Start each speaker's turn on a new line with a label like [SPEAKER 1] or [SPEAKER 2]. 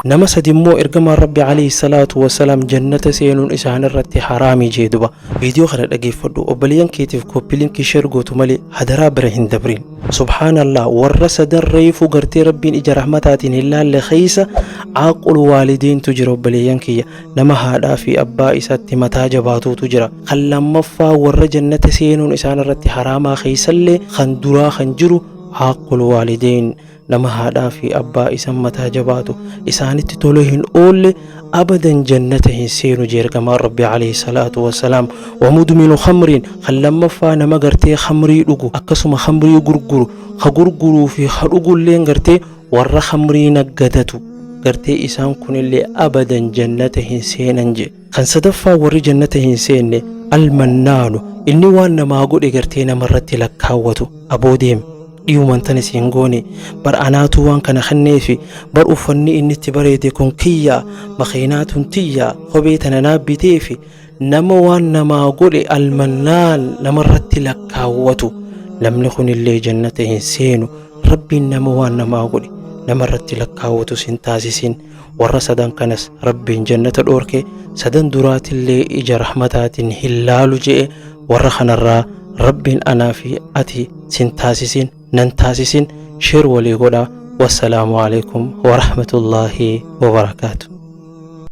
[SPEAKER 1] Nama sadi immoo ergamaan Rabbi alayhi salaatu wasalaam jannata seenuun isaanirratti haraami jee duba. Viidiyoo kana dhageeffadhu obboleeyyan keetiif kooppi linkii sheer gootu malee hadaraa bira hin dabrin. Subhaanallah warra sadan reeyfuu gartee Rabbiin ija rahmataatiin hin laalle keeysa aaqul waalideyntu jira obboleeyyan kiyya. Nama haadhaa fi abbaa isaatti mataa jabaatuutu jira. Kan lammaffaa warra jannata seenuun isaanirratti haraamaa keeysallee kan duraa kan jiru aaqul waalideyn. nama haadhaa fi abbaa isan mataa jabaatu isaanitti tolee hin oolle abadan jannata hin seenu jeergamaan rabbi alayhi salaatu wassalaam wamudminu khamriin kan lammaffaa nama gartee khamrii dhugu akkasuma khamrii gurguru ka gurguruu fi ka dhugulleen gartee warra khamrii naggadatu gartee isaan kunillee abadan jannata hin seenan jee Kan sadaffaa warri jannata hin seenne almannaanu inni waan namaa godhe gartee namarratti lakkaawwatu aboo deem dhiyuman tana si hin goone bar anaatu waan kana kenneefi bar uffanni inni itti bareede kun kiyyaa makiinaa tun tiyyaa kophee tana naa biteefi nama waan namaa godhe almannaan namarratti lakkaawwatu namni kunillee jannata hin seenu rabbiin nama waan namaa godhe namarratti lakkaawwatu sin taasisin warra sadan kanas rabbiin jannata dhoorke sadan duraatillee ija rahmataatiin hin laalu je'e warra kanarraa rabbiin anaa fi ati sin taasisin nan taasisin sheer walii godha wassalaamu alaikum warahmatullaahi wabarakaatu